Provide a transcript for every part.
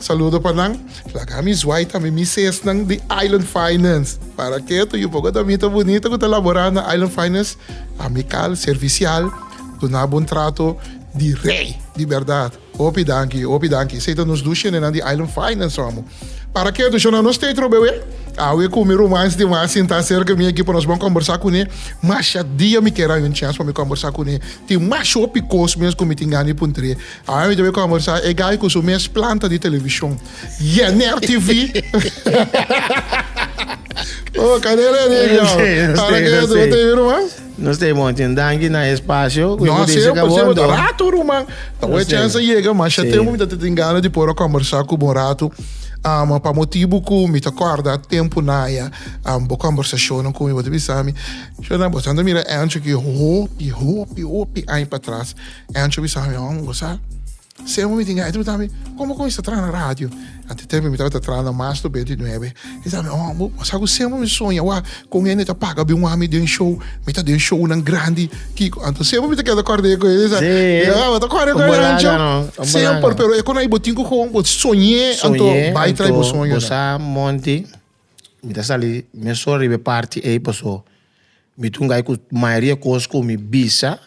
Saludo pa nan. Laga mi zwai tambe mi sesnan di Island Finance. Para ke ta yu poco damita bunita ku ta labora na Island Finance, amikal, servisial, duna bon trato di rei di berdad. Hopi danki, hopi danki. Esei ta nos dus shendenan di Island Finance, amo. Para ke ta shona nos Tetro bewe? Awe ku mi rumans di mas sinta serka mi aki pa nos bon kombersá kuné, masha dia mi kera un chèns pa mi kombersá kuné. Tin masha hopi kos mes ku mi tin gana di puntr'é. Haa mi ta bai conversa e guy cu su mes planta di television. Yener TV! Oh, cade redi e guy? Ara ke yo ta bai ruman? Nos ta bon, tin danki na e espacio cu e No, goedisha semper, semper ta cabondo. rato ruman. Ta bo e chance yega, ma asha tempo mi ta tin gana di por a conversa cu bo un rato. Am, pa motibu cu mi ta corda tempo naya, am, bo conversacionnan cu mi, bo ta bisa mi, Sherna, bo tanda mira Angie hopi, hopi, hopi aña patras. E ancho bisa mi hòm gosa. Sey momen mi tin gana. E pregunta mi, kon bo kuminsa traha na radio? Anto e tempo mi tabata traha na mas loke di nuebe. E bisa mi, hòm, bo sa ku sey momen mi soña awa kon hende ta paga bin wak mi den un show. Mi ta den shownan grandi. Kiko, anto sey momen mi ta keda kòrda e kos esnan. Ya, bo ta kòrda e kos esnan ancho. Semper, pero e konai bo tin ku kon bo soñ'é anto bai trai bo soño. Soñ'é anto gosa monti mi ta sali mesun riba e parti ei paso mi ta ungay ku mayoria kos ku mi bisa.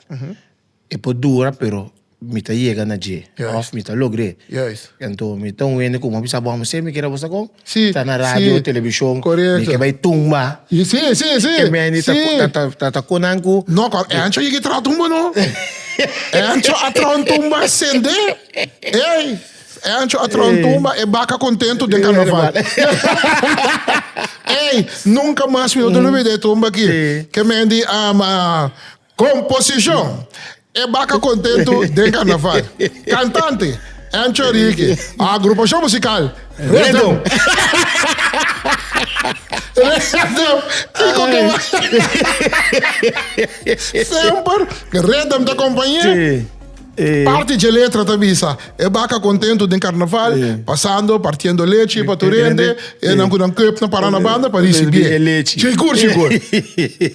E por dura pero mi ta yega na dje of mi ta logr'é. Anto mi ta un hende ku mi a bisa bo amo siempre kere bo sa kon ta na radio o televishon mi ke bai tumba ken mi a hende ta ta ku nan ku No kon e ancho yega traha tumba no e ancho a traha un tumba sende ey e ancho a traha un tumba e baka kontento den karnaval ey nunka mas mi no ta olbida e tumba aki ke mi a hende a Composicion, E Baca Contentu den Carnaval. Cantante, Ancho Ricky. Agrupacion musical, Rhythm. Rhythm, Kiko ke mas semper Rhythm ta acompañe. Parti dje letra ta bisa, E Baca Contentu den Carnaval, pasando, partiendo lechi pa tur hende, enan cu nan koop na para na banda pa ricibi e. Cigur, cigur.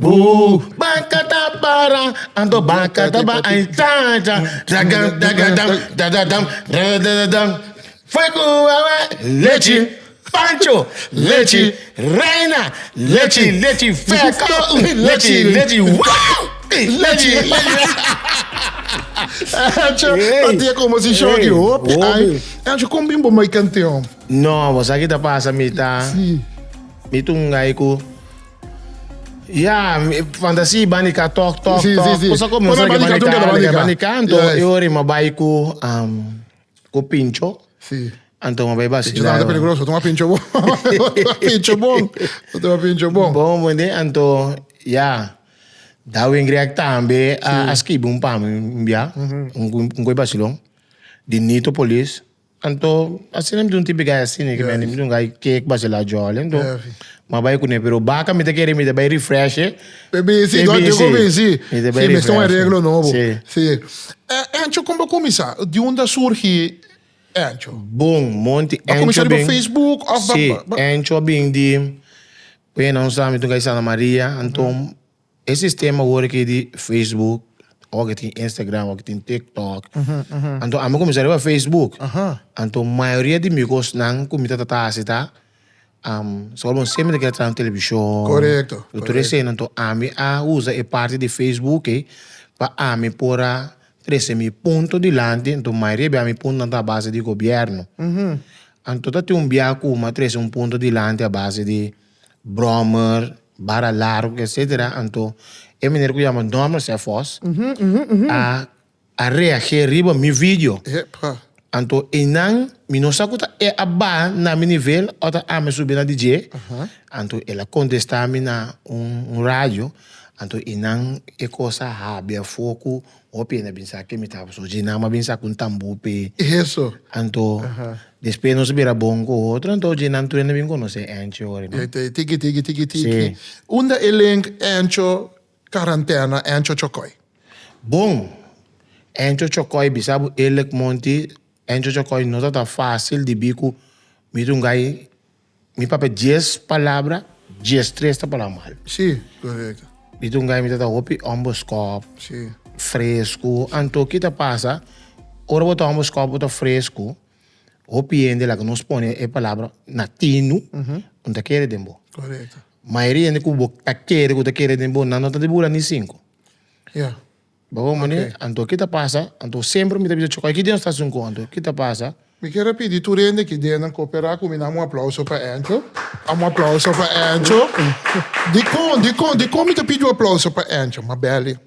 Woo Baka ta para Ando baka ta ba ay cha cha Daga daga dam dada dam dada dada dam Fuego wawa Lechi Pancho Lechi Reina Lechi lechi feko Lechi lechi woo Lechi Pancho pa tia como si shoki hopi ay Pancho con bim bo mai canteon. No bo sa ki ta pasa mi ta si mi ta un gay ku. Ya, fantasy bani ka tok tok Sí, tok. sí, sí. Cosa como Por sabe que ejemplo, bani ka, nunca bani ka. bani ka, anto Yes. e ori ma bai ku um, ku pincho, Sí. anto ma bai Pincho vacila. también está peligroso. Toma pincho bon. Toma pincho bon. Toma pincho bon. Bon, bon, de, anto, ya. Darwin Greg tambe a, a skibi un pami un bia, un, un koi vacilon, di Nitopolis. Anto asina mi ta un tipi gai asina ke mi ta un gai ke ku base la jòl anto mi bai kuné pero baka mi ta kere mi ta bai refresh e besi mi ta bai refresh mester un areglo nobo si Encho kon bo kuminsá di unda a surgi Encho? Bon monti Encho a kuminsá riba facebook òf bo a Encho a bin di mi ta un gai Santa Maria anto. E sistema wor aki di Facebook, ora ki tin Instagram, ora ki tin TikTok. Anto ami a kuminsá riba Facebook. Anto mayoria di mi kosnan ku mi ta trata hasi ta Señor bon siempre ta kere traha un televishon. Korekto, korekto. Tur esei. Anto ami a usa e parti di Facebook ei pa ami por a trese mi punto dilanti. Anto mayoria bia mi puntonan ta a base di gobierno. Anto ta tin un bia ku mi a trese un punto dilanti a base di. brommer, bara largo etcetera anto e meneer cu yama Norman Cephos a a reage riba mi video Epa. anto eynan mi no sa cu ta e a baha na mi nivel of ta ami subi na di dje anto el a contesta mi na un radio anto eynan e cosa a habia afor cu Hopi hende a bin sa ke mi tabas oye i nan a bin sa ku un tambu p'e eso. Anto despues nos a bira bon ku otro, anto oye nan tur hende a bin konos'é Ancho ora no. Tiki tiki tiki tiki. Unda e link Ancho karantena Ancho Chokoi? Bon, Ancho Chokoi bisa bo eerlik monti, Ancho Chokoi no tabata fasil di bi ku mi ta un gai. Mi papia dies palabra, dies tres ta palabra mal. Sí, correcto. Mi ta un guy mi ta ta hopi humble scop. Sí. Fresco. Anto ki ta pasa, ora bo ta humble scop, bo ta fresco, hopi hende laga nos pone e palabra na tinu, bo no ta kere den bo. Correcto. Mayoria hende ku bo ta kere, ku ta kere den bo nan no ta di bula ni cinco. Ya. Bo hopi mane, anto ki ta pasa? Anto semper mi ta bisa chocai ki den nos ta haci un con? Anto ki ta pasa? Mi kier a pidi tur hende ki dennan coopera cu mi na un aplauso pa Angel. Un aplauso pa Angel. Dicon, dicon, dicon mi ta pidi un aplauso pa Angel? Mabeli,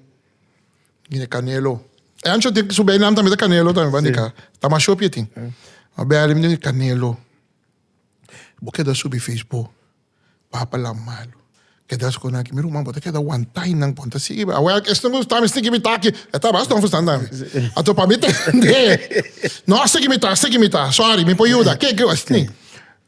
Mine Canelo. Angel tin, su bijnaam tambe ta Canelo tambe, bandi ka. Ta mashopi e tin. Mabeli, Mine Canelo, bo keda subi Facebook? Papalam malu. Keda sconan aki. Mi ruman bo ta keda wantay nan pon ta sigui. Aweh aki esnan gusta mi sigui mi taki. E ta bas don Fernando ami. Ato pa mi tende. No sigui mi ta, sigui mi ta. Sorry mi por yuda. Ke ke esni.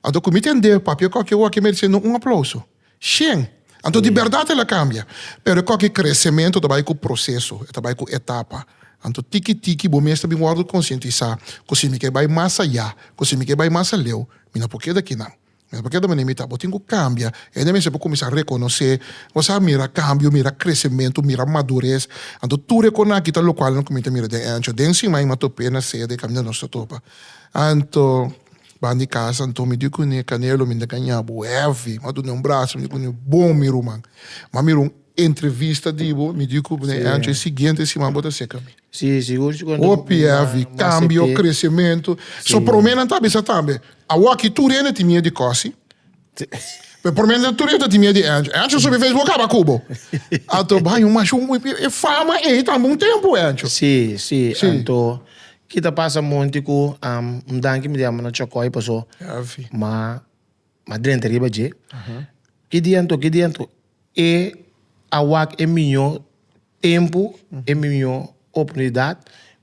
Ato cu mi tende papia koki awor aki merece no un aplauso. Shen. Anto di berdad el a cambia. Pero e koki crecemento ta bay cu proceso. E ta bay cu etapa. Anto tiki tiki bo mes ta bin wordo concientisa cu si mi ke bay mas aya, cu si mi ke bay mas aleu, mi no por keda aki nan. Mes pakier ta manda imita, bo tin ku kambia, i hende mester por kuminsá rekonosé, bo sa mira kambio, mira kresementu, mira madures, anto tur e kona aki ta lokual nan kuminsá mira den Ancho, den Simai mi a top'é na sea den kaminda nos ta topa, anto ban di kasa, anto mi di kuné Canelo mi ta gañá bo hevi, mi a dun'é un brazo, mi di kuné bon mi ruman, mi a mira un entrevista di bo, mi di ku bo den Ancho e siguiente siman bo ta seka mi. OPF i Cambio, Crecemento. So prome nan ta bisa tambe, awoki tur hende tin miedu di Cosi. Pero prome nan tur hende tin miedu di Ancho. Ancho subi Facebook caba cu bo. Anto baño mas un wipi e fama ey tambe un tempo Ancho. Si, si, anto ki ta pasa monti cu, am, un danki mi di amo na Chocoy paso, ma. Ma drenta riba dje, ki dianto, ki dianto, e a wak e miño tempu, e miño oportunidat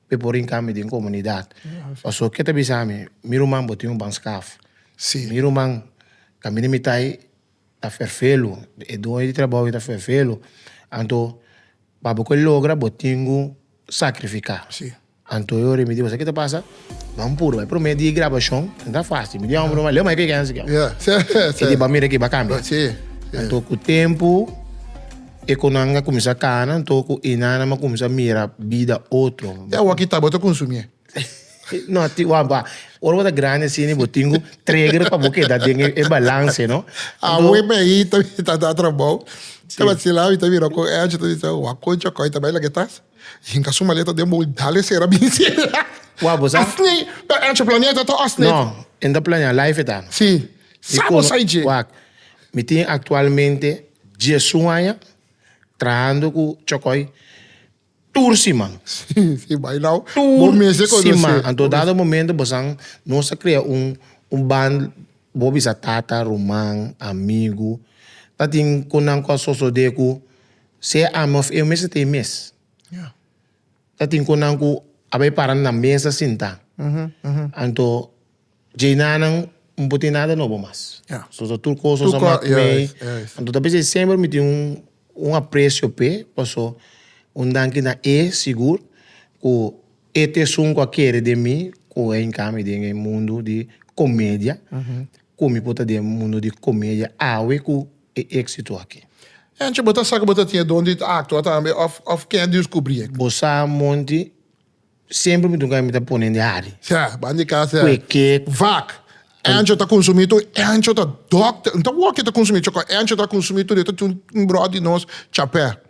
p'e por rin kami den komunidat. Paso ke ta bisa mi, mi ruman bo tin un ban skaf. Sí. Mi ruman kaminda mi ta ei ta ferfelu, e doño di trabou ei ta ferfelu. Anto, pa bo ke logra bo tin ku sakrifiká. Sí. Anto yo remiti bo, sa ki ta pasa? Ban puru bai promé di e grabashon, no ta fásil. Mi di hòmber nomás, leu mai peken ansi ki ò. E di ban mira ki bai kambia. Anto ku tempu, e konannan a kuminsá kana, anto ku e nannan a kuminsá mira bida otro. E awa ki ta bo ta konsumé. No, a tin, wak, wak. Ora bo ta grandi asina i bo tin ku tregger pa bo keda den e balanse, no? Awe mi ahi ta ta da trabou, ta basilal, mi ta mira ku Angie ta bisa, wak koncha kòi ta bai laga e tas? Hinca su maleta den bou y dal e cera bini cera. Wou bo sa? Asni, pero Ancho planea ta to asni. No, e ta planea life e ta. Si. Sa bo sai dje? Wak, mi tin actualmente diesun aña trahando cu Chocoi tur siman. Si, si, bay now. Bo mes e conoce. Tur siman. Anto dado momento bosan nos a crea un un band, bo bisa tata, ruman, amigo, ta tin cu nan cu a sosode cu. Sea ami of e mester ta e mes. Ta tin konan ku a bai para nan na mesa sinta. Anto dje nanan mi por tin nada nobo mas. So ta tur kos nos a mak mei. Anto ta bisa semper mi tin un aprecio p'e paso un danki na e sigur ku e t esun ku a kere den mi ku a hinka mi den e mundu di komedia. Komi bo ta den e mundu di komedia awe ku e éksito aki? Anchi bo ta sa ku bo ta tin e don di aktua tambe òf òf kende yu skubrí e? Bo sa monti semper mi dunka mi ta ponen di hari. Sea, ban di kas sea. Kue ke? Vak, Anchi ta konsumí tur Anchi ta dòkter, no ta wòkio ta konsumí chokó Anchi ta konsumí tur e ta tin un bròt di nos chapé.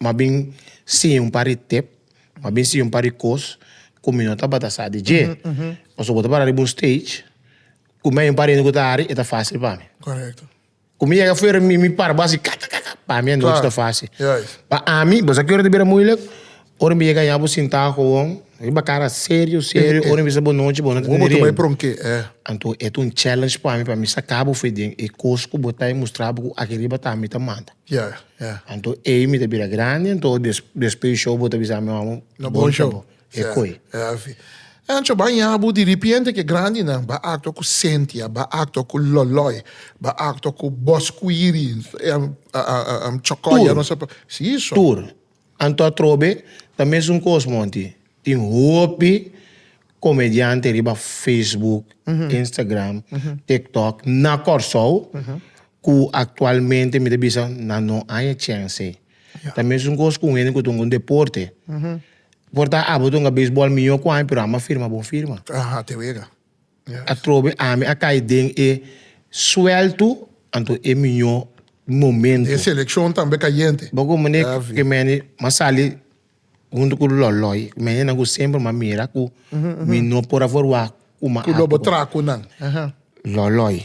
M'a bin siña un par di tep, m'a bin siña un par di kos ku mi no tabata sa di dje. Pasobra ku bo ta para riba un stage, ku mi hay un par di hende ku ta hari, e ta fásil pa mi. Korekto. Ku mi yega fuera, mi mi para bo hasi ka ka ka ka, pa mi e nochi ta fásil. Juist. Ma ami, bo sa ki ora ta bira muilik? Ora mi yega ña bo sintá gewoon riba kara serio serio, ora mi bisa bo nochi bo no ta Bo tene bo tuma e riba. pronk'é, e. Anto e ta un challenge pa mi, pa mi saka bo afuer den e kos ku bo ta hay, mustra bo ku aki riba ta mi ta manda. Ya, ya. Anto ey mi ta bira grandi anto despues di show bo ta bisa mi mama no bon show bo e koe. Ya, ya asi. Anto baña bo di ripiente ke grandinan ba acto cu Cynthia, ba acto cu Loloy, ba acto cu Boscuiri, Chocoya, Tur. Anto atrobe ta mesun kos monti. Tin hopi komediante riba Facebook, Instagram, TikTok na Kòrsou ku aktualmente mi ta bisa nan no aña chense. Ta mesun kos ku un hende ku ta hunga un deporte. Por ta abo ta hunga beisbòl mihó ku ami pero amo a firma bon firma. Te wega. Atrobe ami a cay den e suelto, anto e miño momento. E seleccion tambe cayente. Bo cu mene cu mene ma sali hunto cu loloy, cu menenan cu semper ma mira cu mi no por a forma cu ma ato. Cu lobo tracunan. Loloy.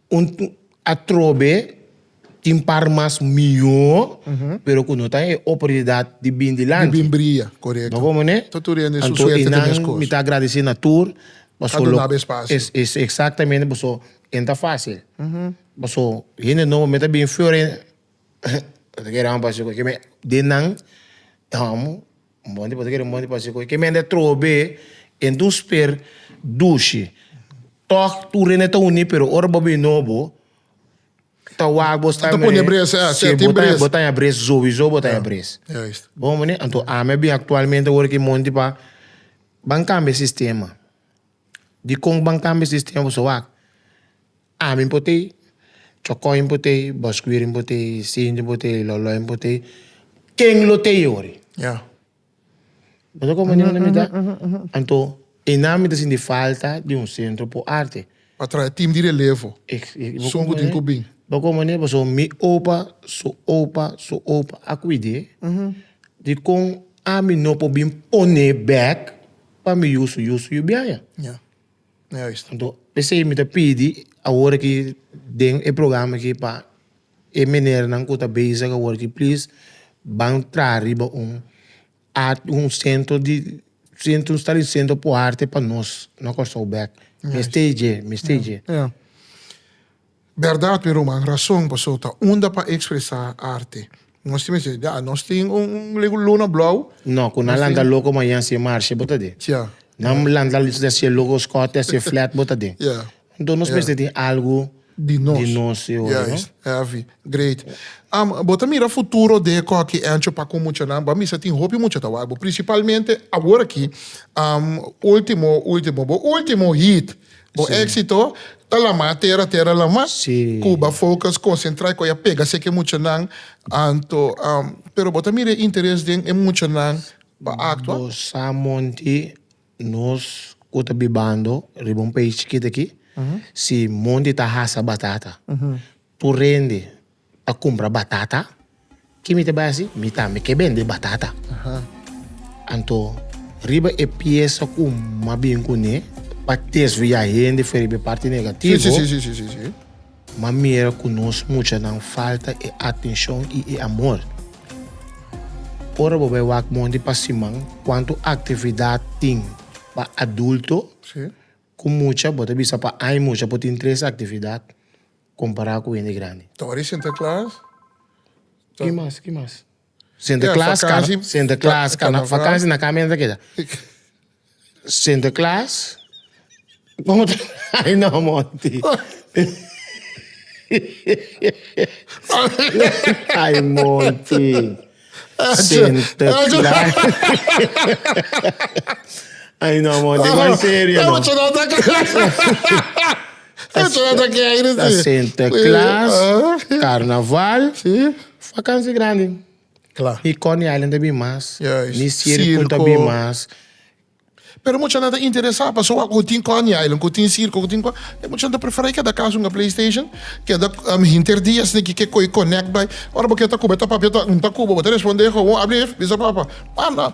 Un atrobe tin par mas mihó pero cu no ta den e oportunidad di bin dilanti. Di bin bria, corecto. No como ne? Ta tur hende su Anto suerte ta mescos. Enan mi ta agradece na tur paso. Ta dunaba espacio. Es exactamente paso e no ta facil. Paso hende nobo me ta bin Fiore. den nan amo monti por ta kere monti pasobra kiko e keme ta troho be enton sper dushi tog tur rene ta uni pero ora bo bin no bo ta wak bo sta bo ta aña bres sowiso bo ta aña bres bo homo ni anto ami a bin actualmente wor aki monti pa ban cambia sistema dikon ban cambia sistema pasobra wak Ami bo t'ei, Chocoi bo t'ei, Bosqueweering bo t'ei, Cindy bo t'ei, Loloi bo t'ei, ken lo t'ei ori? Bo ta comprende kunda mi ta? Anto e nan mi ta sinti falta di un centro po arte. Pa traha e team di relevo, sun ku tin ku bin. Bo comprende? Paso mi opa su opa su opa a cuide di kon ami no por bin pone bek pa mi yusu yusu yu biaña. Anto p'esei mi ta pidi awor aki den e programa aki pa e menernan ku ta bezig awor aki plis ban traha riba un art un sentro di un stablecimento p'arte pa nos na Kòrsou bèk mi stay dje mi stay dje. Berdad mi ruman, rason paso ta unda pa expresa arte. Nos tin mester ya, nos tin un lego luna blou. No, cu nan lanta loco mañan si e marcha bo ta den. Tja. Nan lanta si e loco scote a si e flat bo ta den. Ya. Enton nos mester tin algo Di nos. di nos e ora, no? Heavy. Great. Am, bo ta mira futuro den e Cocky Ancho pa cu muchanan? Bo a misa tin hopi mucha ta wak bo, principalmente awor aki, am, ultimo, ultimo, bo ultimo hit. Bo Sí. éxito ta lamá tera tera lamá. Sí. Cuba focus concentra e coya pega seke muchanan anto am, pero bo ta mira e interes den e muchanan pa actua? Bo sa monti nos cu ta bibando riba un pais chikit aki, si monti ta hasa batata, Por rende pa cumpra batata. Ki mi ta bay haci? Mi tambe ke bende batata. Anto riba e pieza cu mi a bin cu ne pa desvia hende for riba e parti negativo, mi a mira cu nos muchanan falta e atencion y e amor. Ora bo bay wak monte pa siman cuanto actividad tin pa adulto. Ku mucha bo ta bisa pa ai mucha por tin tres aktividat kompará ku hende grandi? Ta ora di Sinterklaas. Ki mas? Ki mas? Sinterklaas, karna, Sinterklaas, karna, vakansi na kami nan ta keda. Sinterklaas, bon bo ta ai na monti. Ai monti. Sinterklaar. Ay no amor, di bai serio no. Ta Sinterklaas, Karnaval, vakansi grandi. Mi Coney Island ta bin mas, mi sirko ta bin mas. Pero muchanan ta interesá pasobra oko ku tin Coney Island, ku tin sirko, ku tin kon. E muchanan ta preferá i keda kas un a playstation, keda hinter dia esei ke ke koe connect bai. Ora bo ke ta Cuba e ta papia ta un ta Cuba bo ta respondé gowon abri ef bisa papa ah no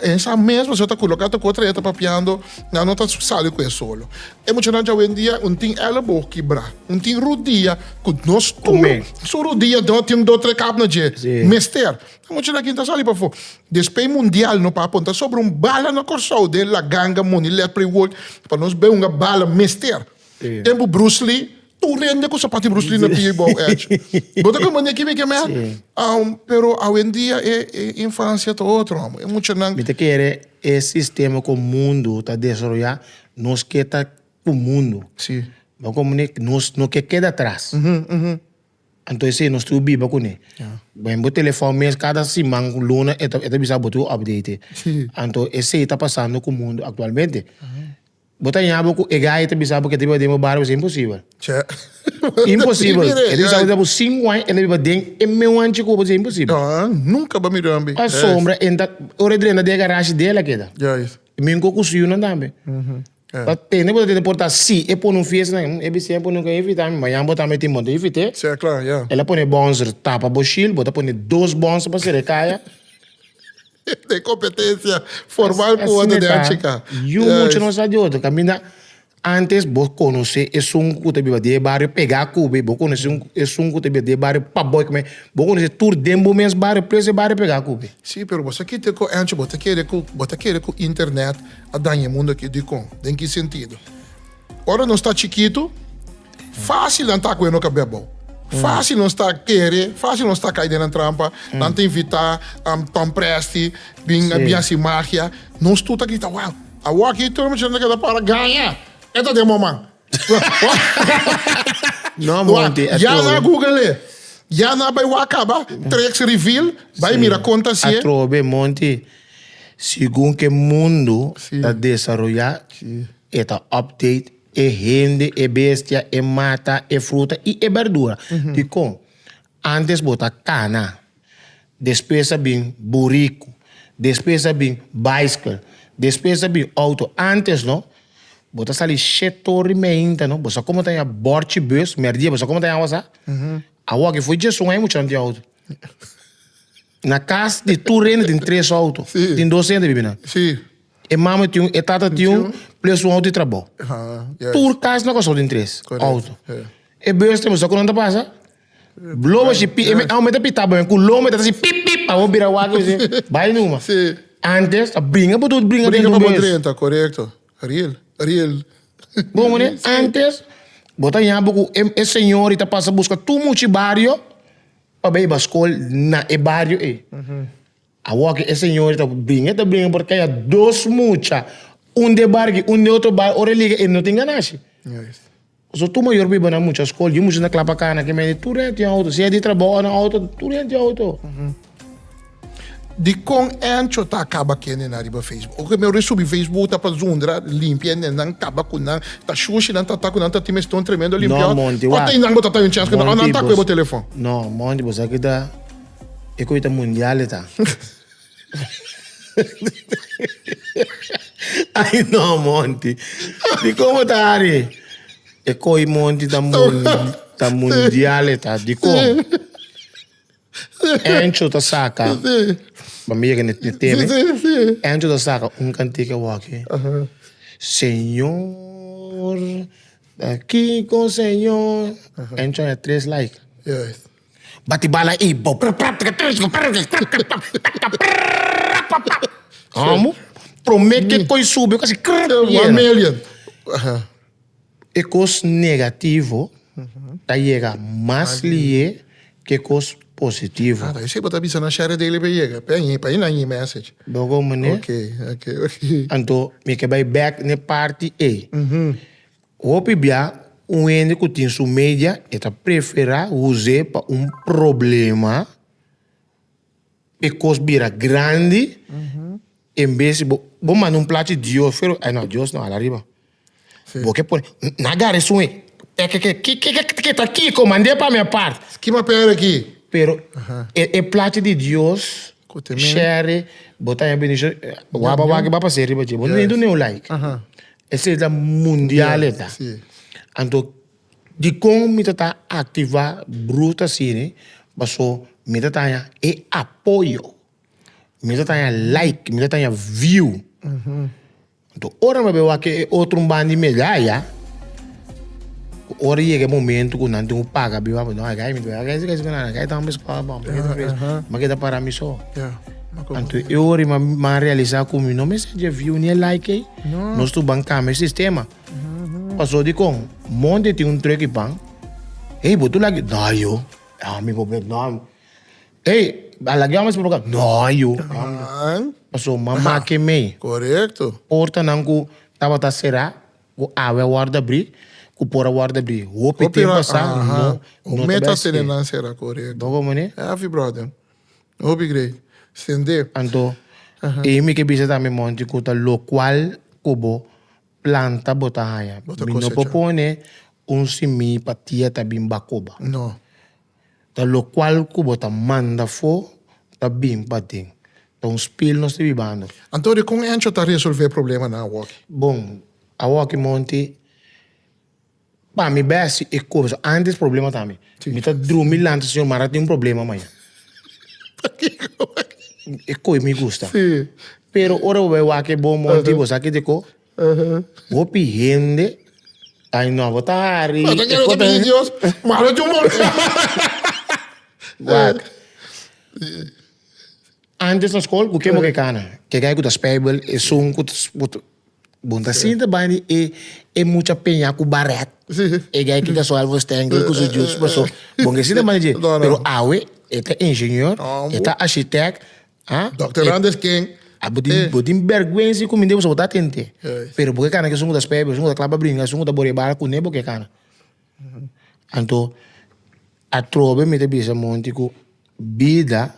esa mes bo ta culo kata kotra e ta papiando nan no ta sali ku e solo. E muchanan awendia un tin elebo kibrá, un tin rudia ku nos tur su rudia tin dos tres kap na dje mester. Mucha nakin ta sali pafó. Despey mundial no papon ta sobra un bala na Kòrsou den La Ganga Money Ledprey World pa nos beunga bala mester. Tempu Bruce Lee tur rende ku sapat di Bruce Lee na pia i bou edge. Bo ta kamba neki mi ke mea? Pero awendia e infansia ta otro amo. E muchanan. Mi ta kere e sistema ku mundu ta desaroyá nos ke ta ku mundu. Bo ta kamba nos no ke keda atras. Anto esei nos tur biba kuné. Bo den bo telefòn mes kada siman luna e ta bisa bo tur update. Anto esei ta pasando ku mundu aktualmente. Bo ta ña bo ku e gai ta bisa bo ke ta biba den bo bario esei? Imposibel. Imposibel. E ta bisa bo ku sinku aña el a biba den e meu anchi ku bo esei? Imposibel. Nunka bo a mira ambi. Asombra, ora e drenta den e garashi de el a keda. Mink'o ku su yunan tambe. Ta tende bo ta tende por ta si e pone un fiesta na e bisi e pone un invita mi mañana bo ta meti moto invite sí claro ya el a pone bonser tapa bo shil bo ta pone dos bonser pa sere kaya de competencia formal ku wata de achika yu mucha no sa di otro kaminda antes bo conoce esun ku ta biba den barrio pega kube bo conoce un esun ku ta biba den barrio pa bo kome bo conoce tur den bo mes barrio precio barrio pega kube sí pero bo sa kite ku ancho bo ta kere ku bo ta kere ku internet a daña e mundu akí. Dikon? Den ki sentido? Ora nos ta chikitu, fásil nan ta ku'e no kabé abou. Fásil nos ta kere, fásil nos ta kai den nan trampa. Nan ta invitá Tom Presti, bin bin hasi magia. Nos tur ta grita, Wou, awor akí tur muchachnan ta keda para gaña. E ta den moman. No Monty a Ya na trobe. google e. Ya na bay wa caba treks reveal. Bay mira conta si A e. trobe Monty. Segun ke mundo Sí. ta desaroya Sí. e ta update e hende, e bestia, e mata, e fruta y e berdura. Dikon? Antes bo ta cana, despues a bin buricu, despues a bin bicycle, despues a bin auto, antes no bo ta sali shit todo rimehinta no, bo sa como ta yama borchi bus, merdia bo sa como ta yama sa, awo aki fo'i djesun ai mucha no tin auto. Na cas di tur rende tin tres auto. Sí. Tin dos gente bibi nan. Sí. E mama tin un, e tata tin un, plus un auto di trabou. Ah, yes. Tur cas na Kòrsou tin tres Correct. auto. Yeah. E beus tem, sa kunan ta pasa? Blow a shi pi, e me- Yes. au me ta pita boen ku long me ta si pip pip, amo bira wak mi si bai numa. Sí. Antes a bringa por tur bringa Brinca dentro pa un bo beus. drenta, correcto. Real, real. Bon mané, antes bo ta yaña bo ku e e señor i ta pasa buska tur muchi bario. pa bay baskol na e bario ey. Awor ke e señorita bringa, e ta bringa por kaya dos mucha, un de Barki, un de otro bario, ora e liga e no tin ganashi. So tur mayor biba na mucha skol, yu mucha ta klapa cana, ke mende tur hende tin auto, sea di trabou o na auto, tur hende tin auto. Dikon Encho ta kaba kende nan riba Facebook? Oke mi orí subi Facebook ta pa zundra limpia ende nan kaba ku nan ta shushi nan ta ta ku nan ta tin mester un tremendo limpiaor o ta inan bo ta ta un chens ku nan o nan ta kue bo telefon. No Monty bo sa ke ta e ku e ta mundial e ta ay no Monty dikon bo ta ari e koi Monty ta mundial e ta dikon. Encho ta saka pa mi yega ni teme Encho ta saka un cantica awaki Señor aki con Señor Encho a tres like bati bala y bo Amo prome ke koe subi yo casi krrr yena E kos negativo ta yega mas lihe ke e kos positivo. Ah, ta esei bo ta bisa nan share daily pa yega, pa e pa e nan e-message. Bo go mane? Ok, ok, ok. Anto mi ke bai back n'e parti ei. Hopi bia un hende ku tin su media e ta prefera uze pa un problema. e kos bira grandi en bes si bo bo manda un plachi dios fuer ey no dios no hala riba bo ke pone na agarra esun wey ekeke kikiki ta kiko mande pa mi apart ki papel aki pero e plachi di dios share bo ta hen bendish wak ba wak riba dje bo no done un like esei ta mundial eta anto. Dikon mi ta ta aktivá bruta asina? Paso mi ta taña e apoyo, mi ta taña like, mi ta taña view. Anto ora mi a bai wak e otro un banda di medalla, ku ora yega e momento ku nan tin ku paga bin wak, no akí mi ta bai wak esei, esei ku nan, akí tamba mi skua bou, mi yega ofrese, mi a keda para mi so. Anto e ora mi a realisá ku mi no mester dje e view ni e like ei, nos tuban kambia e sistema. Paso di con Monte tin un truck y pan. Ey, bo tu lagui? No, ayo. Ah, mi bo bek, no. Ey, a lagui amo espo pa ca? No, ayo. Nan. Paso mama ke mei. Correcto. Porta nan cu tabata cera, cu awe a wordo abri, cu por a wordo abri. Hopi Hopi tempo ra, asa, aha. no, Un no mes ta tabata tene espe. nan cera, correcto. Bo como ne? Heavy, brother. Hopi great. Sende. Anto, ey mi ke bisa tambe Monte cu ta locual cu bo planta bo ta haña. Bo ta Mi no por kosechá. pone un simí pa tia ta bin bakoba. No. Ta lokual ku bo ta manda fo ta bin paden. Ta un spil nos ta bibando. Anto, dikon Encho ta resolvé problemanan awoki? Bon, awoki monti. Pa mi bes e comienso antes problema ta mi mi ta drumi lanta señor mara tin un problema maña e coe mi gusta pero ora bo bai wak e bo monti bo sa kieteco hopi hende ai no bo ta hari mara tin un problema wak antes na school cu ke bo ke cana ke gai cu ta spijbel esun cu ta. Bon ta sinta bai di e e mucha peña ku barèt e guy ke kasual for stengel ku su jus paso bon ke sinta bai di dje pero awe e ta ingenieur e ta ashitèk a Dòkter Randers King a bo tin bo tin bèrgwensi ku minde pasobra bo ta atente pero bo ke kana esun ku ta spè bo esun ku ta klapa bringa esun ku ta bori e bala kuné bo ke kana anto atrobe mi ta bisa monti ku bida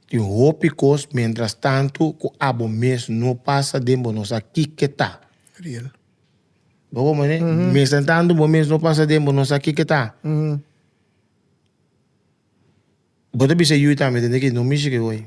Tin un hopi kos mientras tanto ku abo mes no pasa den bo no sa kiko ta. Real. Bo hopi mane? Mientras tanto bo mes no pasa den bo no sa kiko ta. Bo ta bisa yu tambe tende ki no mishi ke hoy.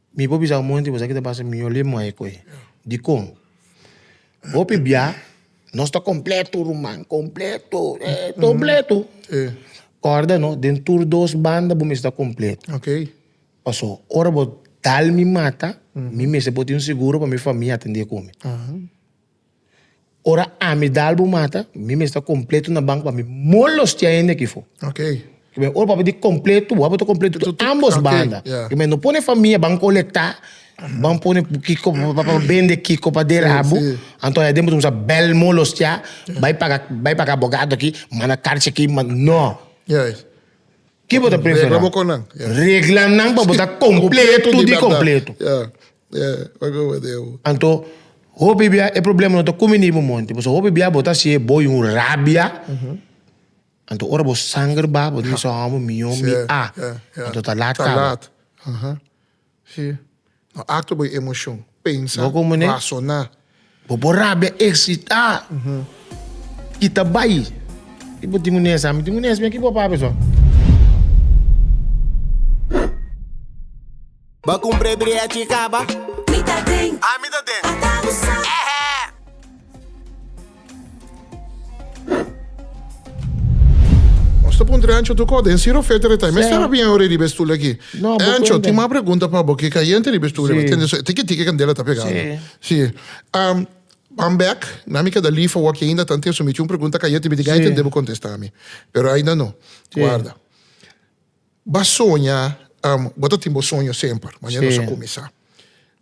Mi por bisa bo moño tin esaki ta basa mihó ley muhé koe. Dikon? Hopi bia nos ta completo ruman, completo eh completo. Corda no den tur dos banda bo mester ta completo. Paso ora bo dal mi mata mi mester por tin un seguro pa mi famia atende cu mi. Ora ami dal bo mata, mi mester kompleto na bank pa mi molostia hende aki for. Okay. Ke men ora papi di kompleto, bo abo ta kompleto to ambos banda. Okay, Ke men no pone famia ban kolektá, ban pone kiko pa bende kiko pa derabu, anto e den bo ta kumsa bèl molostia, bai paga bai paga abogado aki, manda karchi aki, man no. Yes. Ke bo ta preferá? Regla bo kon nan. Yes. Reglanan pa bo ta kompleto di kompleto. Ya. Anto, hopi bia e problema no ta ku mi ni bo monte, pasobra hopi bia bo ta hasi e boi un rabia, anto ora bo sanger ba bo dibi sa hòmber mihó mi a, anto ta lat kaba. Bo komo ne? Bo por rabia eksitá i ta bai. I bo tin un nes, ami tin un nes. Aki bo papia so. Bo kumpré brea chika, bo? Mi ta den. Ami ta den. Ata usá. Ehe! Nos ta puntra Ancho tu kò den Siro Fete Retai. Mester a biña ora e riba e stul aki. No, bo Ancho, cuenta. tin mas pregunta pa bo. Ke kayente riba e stul riba. Sí. Tende so, tiki tiki kandela ta pegando. Sí. Sí. Am, I'm back. Na mi keda lief awor ki ainda ta antes, so mi tin un pregunta kayente, mi tin Sí. kayente debe contesta mi. Pero ainda no. Sí. Guarda. B'a soña, am, bo ta tin bo soño semper, manera nos a kuminsá.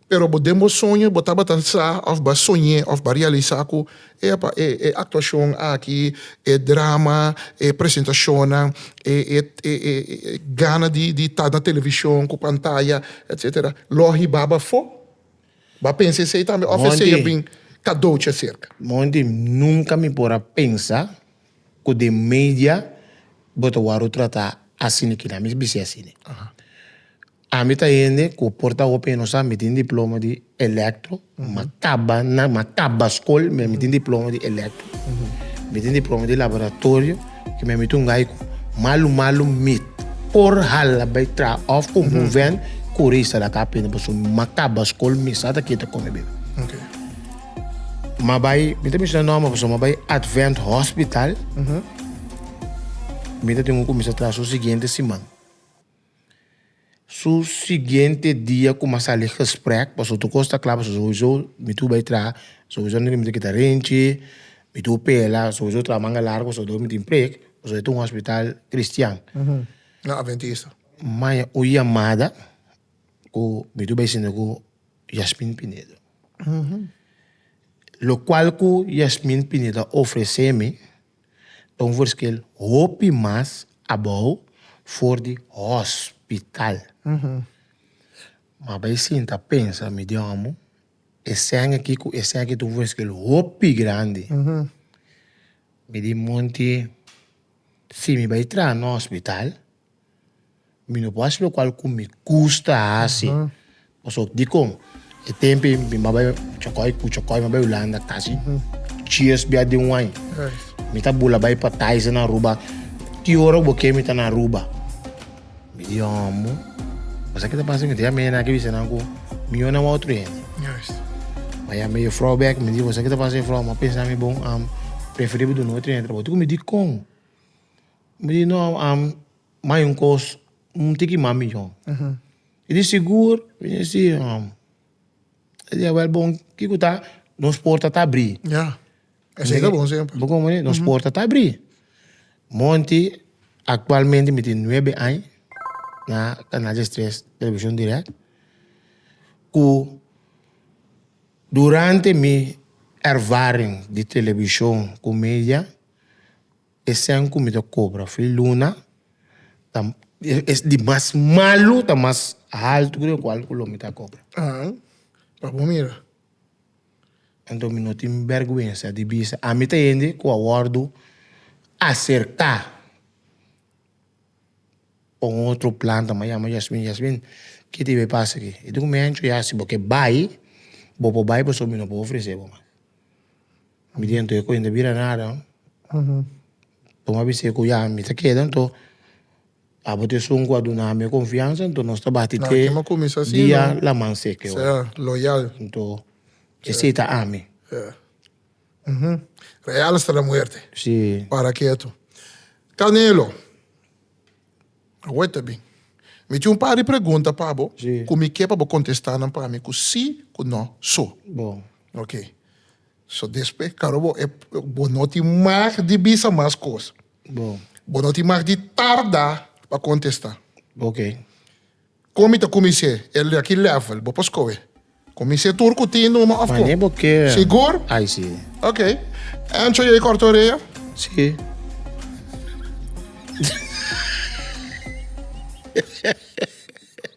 Pero bo den bo soño bo tabata sa òf b'a soñ'é òf b'a realisá ku, epa, e e aktuashon aki, e drama, e presentashonnan, e e e e e gana di di ta na televishon ku pantaya, etsetera, lo hibá b'afó. B'a pensa esei tambe òf esei a bin kadouchi aserka. Monti nunka mi por a pensa. cu den media bo ta worde trata asina e kina mi bisé asina. Ami ta hende cu por ta hopi e no sa mi tin diploma di electro ma caba na ma caba scol me mi tin diploma di electro mi tin diploma di laboratorio y me mi ta un guy cu malu malu mi por hala bay traha of cu moven cura y sa la caba pende pasobra ma caba scol mi sa ta keda con mi bebe. M'a bai, mi ta menshona nòmber pasobra m'a bai Advent Hospital. Mi ta tin ku kuminsá traha su siguiente siman. Su siguiente dia ku m'a sali gesprek, pasobra tur kos ta kla pasobra souso mi tur bai traha, souso no tin minte kita rinchi, mi tur pela, souso traha manga largu pasobra dor mi tin prek, pasobra e ta un hospital cristian. M'a oye yamada ku mi tur bai sinti ku Yasmin Pinedo. Lo cual cu Yasmin Pinedo a ofrece mi ta un verschil hopi mas abou for di hospital. Ma bay sinta pensa mi di homo, escen aki cu escen aki ta un verschil hopi grandi. Mi di monti si mi bay traha na hospital. Mi no por hasi lokual ku mi gusta hasi. Pasobra dikon? E tempu ei mi maba chòkòy ku chòkòy mi bai Hulanda kasi dies bia den un aña. Mi ta bula bai pa Taiza na Aruba. Ki ora ku bo ke mi ta na Aruba? Mi di homo, basa ki ta pasa mi ta yama enan ke bisa nan ku mi yon a un otro hende. Mi a yama e yefrou bek mi di basa ki ta pasa yefrou? Mi a pensa mi bon, am preferi bo duna otro hende trabou. Dikon mi di kon? Mi di no am mai un kos un tiki mas mijo. Mi di sigur? Mi di si am. E dia wèl bon kiko ta? Nos porta ta abri. Ya, esei ta bon semper. Bo komo e? Nos porta ta abri. Monti aktualmente mi tin nuebe aña na Canal des Tres Televishon Dirèk ku durante mi ervaring di televishon ku media. E cent cu mi ta cobra for di luna ta es di mas malu ta mas alto cu den cual cu lo mi ta cobra. Ahan, pa bo mira. Enton mi no tin berguensa di bisa ami ta hende cu a wordo acerca pa un otro planta mas yama Yasmin, Yasmin ki tin bay pasa aki? E dico mi ancho ya si bo ke bay bo por bay pasobra mi no por ofrece bo mas. Mi di anto e cuenta bira nada. Bo a bisa cu ya mi ta keda anto abo ta esun cu a duna mi e confiansa anto nos ta bati te dia laman seco e ora. Anto esey ta ami. Real esta na muerte. Para ketu. Canelo, a weta bien. Mi tin un par di pregunta pa bo cu mi ke pa bo contesta nan pa mi cu si cu no. So. Oke. So despues karo bo e bo no tin mag di bisa mas cos. Bo. Bo no tin mag di tarda pa contesta. Okay. Con mi ta cuminse el aki level bo por scoe. Cuminse tur cu tin numa of Wanneer bo kier. Sigur? Ai si. Okay. Ancho yei corta orea? Si.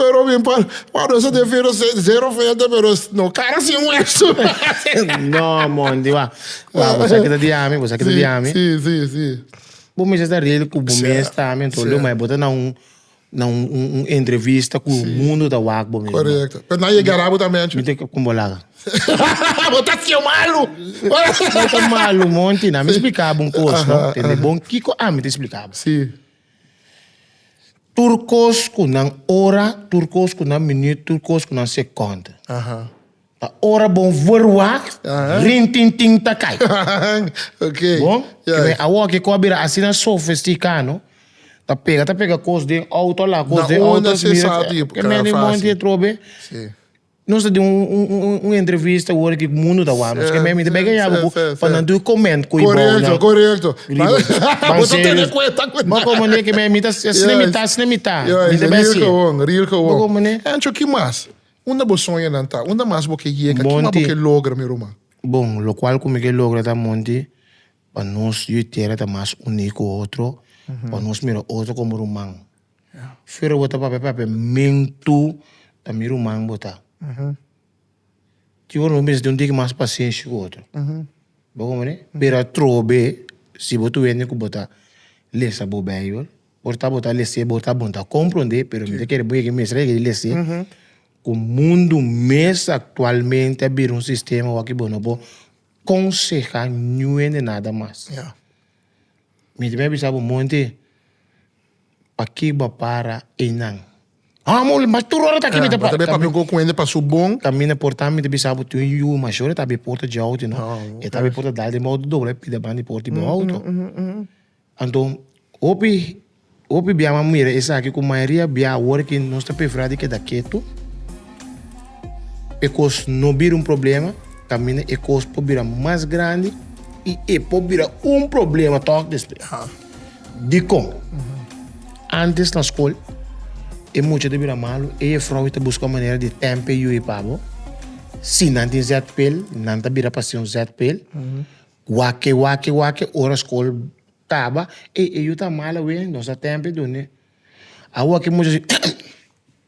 Pero mi pa pa nos de fero zero fete pero no cara sin hueso. no Monty wa wa bo sa kita di ami bo sa kita di ami. Si si si. Bo mester ta ready ku bo mes ta ami anto lo mai bo ta na un na un un entrevista ku mundo ta wak bo mi. Korekto pero nan yega na bo ta mencho. Mi te kon bo laga. bo ta ciu malu. no ta malu Monty na mi splika bo un kos no tende bon kiko ami ta splika bo. Si. Tur kos ku nan ora, tur kos ku nan minüt, tur kos ku nan sekond. Ta ora bon vur wak, rin tin tin ta kai. okay. Bon, yeah. Kibe awo ke ko a bira asina sofistika, no? Ta pega, ta pega kos den auto la, kos den auto. Na onda se sa di, e meni monti e trobe. Si. Nos ta den un entrevista ora ki mundo ta wak nos. Mi ta bega yama ku pa nan tur comment ku i bou nan. Korekto, korekto. Bo ta tene kuenta ku nan. Bo komo ne ke mi ta asina asina mi ta asina mi ta. Mi ta besi. Real kawon, real kawon. Bo komo ne. Ancho ki mas unda bo soña nan ta? Unda mas bo ke yega? Monti. Ki mas bo ke logra mi ruman? Bon, lokual ku mi ke logra ta monti pa nos yu i tera ta mas uní ku otro, pa nos mira otro komo ruman. Fero bo ta papia papia men tu ta mi ruman bo ta. Tin ora bo bisa tin un diki mas pasenshi ku otro. Bo comprende? Pero atrobe si bo ta wende ku bo ta lesa bo beibel ora ta bo ta lese bo ta bon ta kompronde pero bo ta kere bo yega mester a yega di lese ku mundu mes aktualmente a bira un sistema wak bo no por konseha nuende nada mas. Mi tambe a bisa bo monte P'aki bo a para einan? Hò, mul, mas tur ora ta aki mi ta para. Bo ta bay papia un koko ku hende pa su bon. Tambi na porta mi ta bisa bo tin un yu mashor e ta bay porta dje outo no. E ta bay porta dal den bo outo dobla e pida ban di porta di bo outo. Anto hopi hopi bia a mira esaki ku mayoria bia awor ki nos ta prefera di keda ketu e kos no bira un problema kaminda e kos por bira mas grandi i e por bira un problema tok despues. Dikon? Antes na skol e mucha ta bira malu, e jefrounan ta buska un manera di tempa e yu e pabo. Si nan tin zètpel, nan ta bira pa si un zètpel. Wak-e, wak-e, wak-e, ora skol kaba, ey e yu ta mal awe, nos a tempa e dun'e. Awo aki mucha si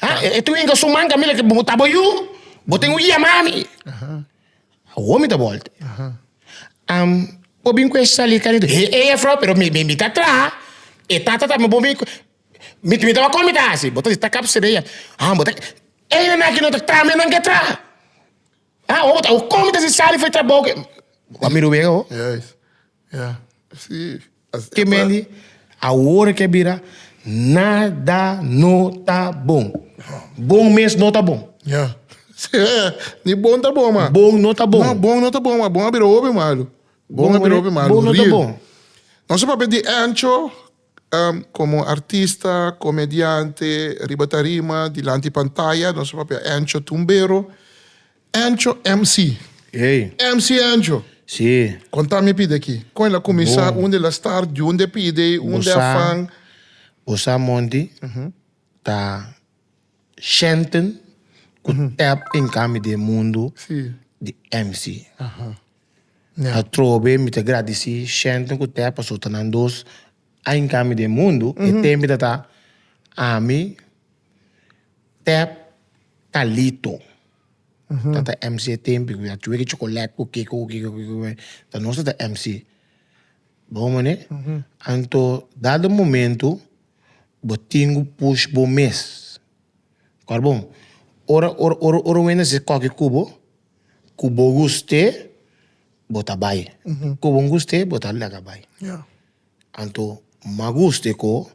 Ha? E, e twinkle su man camila que bo tabo yu, bo ten un yama a mi. Homi ta volte. Am, bo bin kwe sali kanito. He, he, ya vrouw, pero mi, mi, mi ta traha. E tata ta, bo bin, mi, mi taba kon mi ta hasi. Bo ta ta kap sede ya. Ha, bo ta, e nan aki no ta traha, mi nan ke traha. Ha, o, o kon mi ta si sali fue trabou ke. Wa mi ruwega ho. Juist. Ya, si, asina ta. Kemendi, awor ke bira, nada no ta bon. Bon mes no ta bon. Ya, si, ni bon ta bon, ma. Bon no ta bon. No, bon no ta bon, ma bon a bira hopi malu. Bon a bira hopi malu, real. Bon no ta bon. Nos a papia di Ancho komo artista, komediante, riba tarima, dilanti pantaya, nos a papia Ancho Tumbero. Ancho MC. Ey. MC Ancho. Si. Con ta mi pide aki? Con el a cuminsa? Bon. Unde el a start? Di unde pide? Unde Bo sa, afan? bo sa monti ta shenten cu tap den cami di e mundo Si. di MC. Ña. Atrobe mi ta gradici shenten cu tap paso ta nan dos aña cami di e mundo. E temita ta ami. Tap Carlito ta ta MC e tempi cu a chueki chocolate cu kico cu kico cu kico ta nos ta ta MC bo mane anto dado momento bo tin cu push bo mes ora bo ora ora ora wenda si escoge cubo cu bo guste bo ta bay cu bo guste bo ta laga bay anto ma guste co.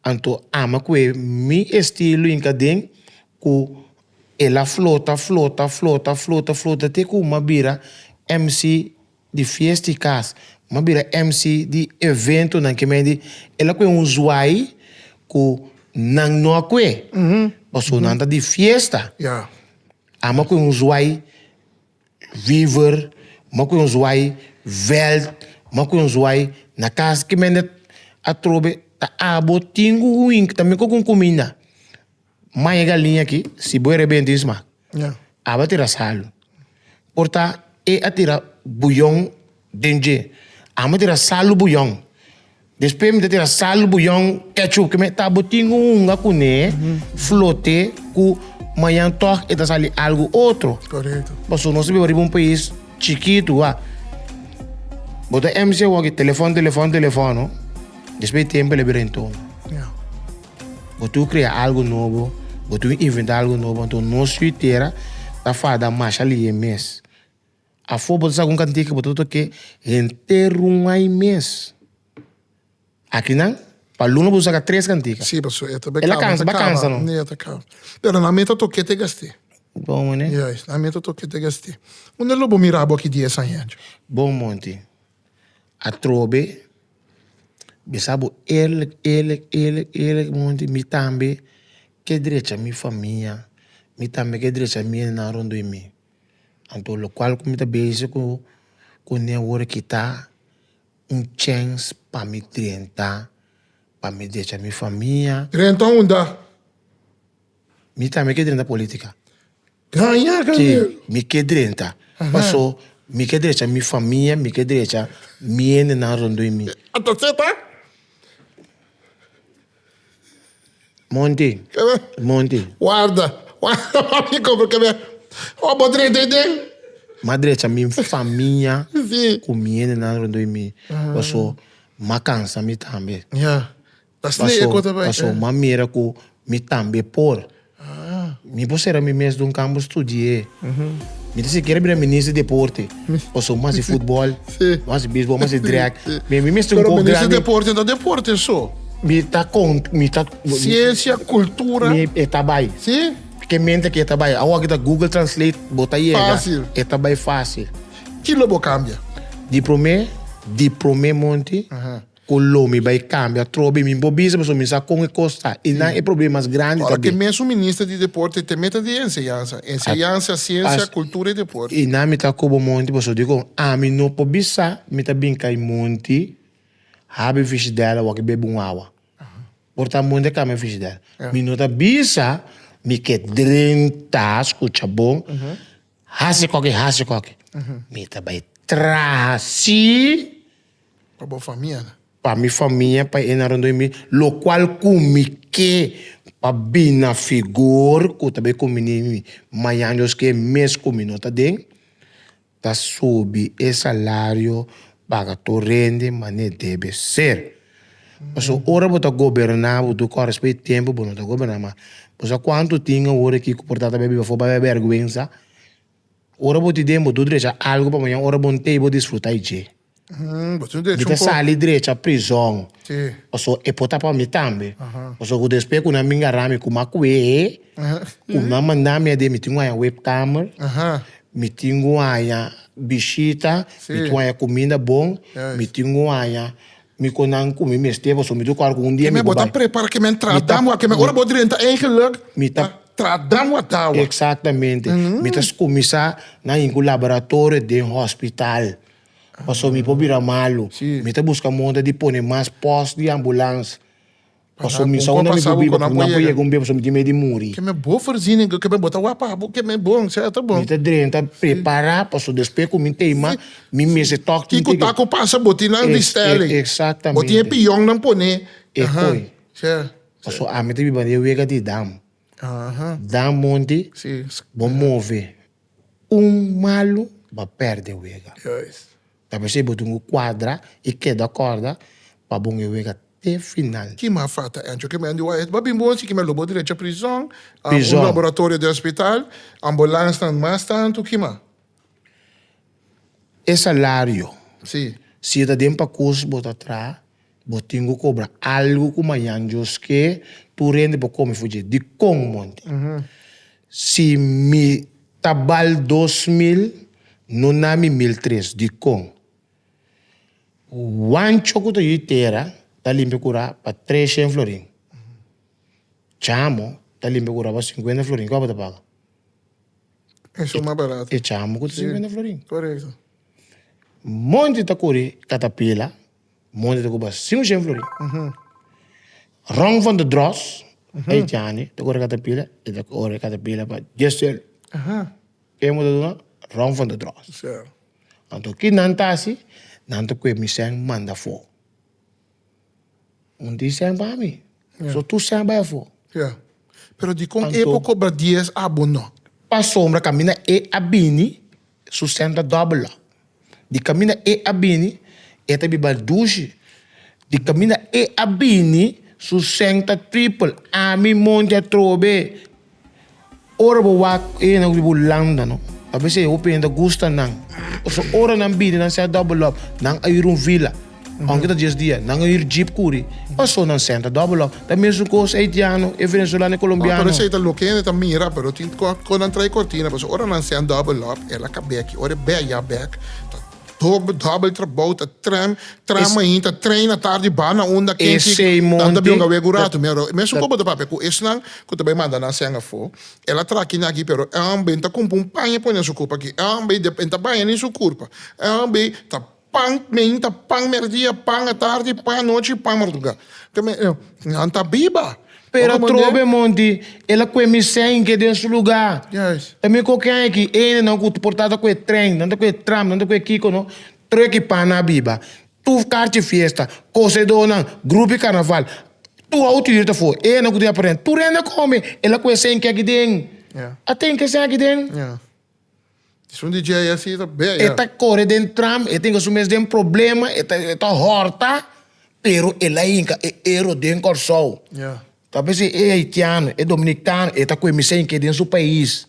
Anto ama cu e mi estilo inca den cu el a flota, flota, flota, flota, flota te cu m'a bira MC di fiesta y cas, m'a bira MC di eventonan que mende el a cu e un zwai cu nan no a cu e paso nan ta di fiesta, ama cu e un zwai. Weaver, Mo cu nos wai, Veld, Mo cu nos wai, na cas ki mende atrobe ta abo tin un huin ki ta miko cu un cuminda, maña e galiña aki si bo e rebenta e sma aba tira salu por ta e a tira buyon den dje amo tira salu buyon. Despues mi ta tira sal buyon ketchup ke mi ta bo tin un hunga kuné flote ku mañan tog e ta sali algu otro. Correcto. Paso nos ta biba riba un pais chikitu wak. Bo ta MC wak e telefon telefon telefono despues e tempo el a bira den tono. Ya. Bo tur krea algu nobo, bo tur inventa algu nobo anto nos suitera ta fada masha liyé mes. Afó bo ta sa ku un kantié ku bo ta toka ke henter rungay mes. Aki nan pa luna bo ta saka tres kantika. Sí paso e ta be kaba e ta kaba e ta kaba pero nan mei ta toke te gast'e. Bon mane. Yes nan mei ta toke te gast'e. Unda lo bo mira bo aki dies aña anjo? Bon monti atrobe be sa bo eerlik eerlik eerlik eerlik monti mi tambe ke drecha mi famia mi tambe ke drecha mi hende nan rond'e mi. Anto lokual ku mi ta bese ku kuné ora ki ta un chèns pa mi drenta pa mi decha mi famia. Drenta unda? Mi tambe ke drenta politika. Gaña dinero? Si, mi ke drenta. Paso mi ke drecha mi famia, mi ke drecha mi hendenan rondoi mi. Ata seta? Monti, monti. Warda, warda pa mi compra kebe. O bo drecha i den? Mas drecha mi famia ku mi hendenan rondó di mi. Paso ma kansa mi tambe. Paso ma mira ku mi tambe por. Mi por sera mi mes dun kambo studi'é. Mi ta sikiera bira minister di deporte. Paso mas di futbòl, mas di bisbòl, mas di drèk. Mi mi mester un Pero kòp minister di grandi. deporte no ta deporte so. Mi ta kon, mi ta, Siensia, kultura, mi e ta bai. si? Ke mente ke e ta bai. Awor aki ta Google Translate, bo ta yega. Fácil. E ta bai fácil. Ki lo bo kambia? Di promé, di promé monti, Cu lo mi bay cambia troa bay mi bo bisa pasobra mi sa con e cos ta y nan e problemas grandi ta bay. Ora cu e mesun Minister di Deporte te meta di e enseñansa, enseñansa, ciencia, cultura y deporte. Y nan mi ta cu bo monti pasobra dicon ami no por bisa mi ta bin cay monti habi frigidera wak bebe un awa por ta monti a cambia frigidera mi no ta bisa mi ke drenta scucha bon haci coke haci coke mi ta bay traha si. Pa bo famianan. Pa mi famia, pa e nan rondoi mi, lokual ku mi ke pa bin na figur ku ta bay kuminí mi mañan yoski e mes ku mi no ta den, ta subi e salario, paga tur rende mané debe ser. Paso ora bo ta goberná bo tur kòrda despues di tempu bo no ta goberná mas. Bo sa kuantu tin awor aki ku por ta ta bay biba for, bay a berguensa Ora bo ti den bo tur drecha algo pa maña ora bo n'tei bo disfruta i dje. Mi ta sali drecha prizon paso e por ta pa mi tambe paso ku despues ku nan bin garami ku maku'e ku nan manda mi aden mi tin ku haña webkamer mi tin ku haña bishita mi tin ku haña kuminda bon mi tin ku haña. Mi con nan cu mi mester pasobra mi ta ocuar cu un dia mi cu bai. Mi ta mi ta Exactamente. Mi ta cuminsa na yin cu laboratorio den hospital pasobra mi por bira malo. Mi ta busca monda di pone mas post di ambulance. Paso mi sa un día mi por biba pero nan por yega un bia paso mi tin medio di muri. Ke me bo verziña go ke me bo ta wak papo ke me bon sea ta bon. Mi ta drenta prepara paso despues ku mi teima mi mes e tok tin tin. Kiko ta ku pasa bo tin nan vistel ei. Bo tin e piyon nan pone aha sea. Paso ami ta biba den wega di dam dam monti bo move un malo bo a perde wega. Ta mester bo dun un cuadra y keda corda pa bo nge wega te final. Kima a fata Encho? Ke men di wak et babin bon si kima lo bo drecha prizon, a un laboratorio den hospital, ambulansnan mas tantu, kima? E salario, si yo ta den pa curs bo ta traha. Bo tin ku kobra algu ku mañan djos ke tur hende por kome fu dje. Dikon, monti? Si mi ta bal dos mil, no na mi mil tres. Dikon? Wancho ku ta yu di tera ta limpia kura pa tres shen florin. Chamo ta limpia kura pa sinkuenta florin. Kiko bo ta paga? E chamo ku ta sinkuenta florin. Monti ta kuri katapila, Moña ta cuba sin un shenflori. Rong van de Dros, e jani, ta corre catapila, e ta corre catapila pa dies cielo. Ke bo ta duna? Rong van de Dros. Anto ki nan ta hasi? Nan ta cue mi sèn manda afo. Un di sèn pa mi. So tur sèn a bai afo. Pero dicon e por cobra dies abo no? Pasobra caminda e a bini Su sèntra dòbel lòk. Di kaminda e a bini, e ta biba dushi. Di kaminda e a bini, su sèntra tripel. Ami monti atrobe. Ora bo wak e nan ku biba un landa no, a bese hopi hende a gusta nan. Pasobra ora nan bini nan ser dòbel lòk, nan a yur un vila. Aunke ta dies dia, nan a hir jeep kuri. Paso nan senta doble log. Ta mesun cos e Haitiano, e Venezuelano, e Colombiano. Oh, pero esey ta loke hende ta mira, pero tin con nan trae cortina, paso ora nan sent doble log, el a cabe aki, ora e bek ya bek, ta doble doble trabou, ta tram, tram mahin, ta train na tardi, ba na unda ken si, nan ta bionga wegu rato, mi a ro, mesun con bo ta papia cu esnan cu ta bay manda nan sent afo, el a tra kina aki, pero el a bay, ta cumpa un paña pone su curpa aki, el a bay, dep, e ta baña ni su curpa, el a bay, ta. Pan meen ta pan merdia, pan atardi, pan anochi i pan mardugá. Te me eh, nan ta biba. Pero a trobe e monti el a kue mi sènke den su lugá. Yes. Ta mi koke a eki endenan ku por ta ta ku e tren, nan ta ku e tram, nan ta ku e kiko no, tro eki pannan a biba. Tur karchi fiesta, kosedónan, grupi karnaval, tur outu yuri ta for. Endenan ku tin aparentemente tur hende a kome, el a ku e sènke aki den. Yeah. A tenke sèn aki den. Yeah. Esun di dje así ta bea. E ta kore den tram, e ta hinka su mes den problema, e ta e ta hòrta, pero el a hinka e ero den Kòrsou. Ta mester si e haitiano, e dominikano e ta kuminsá hinka den su pais.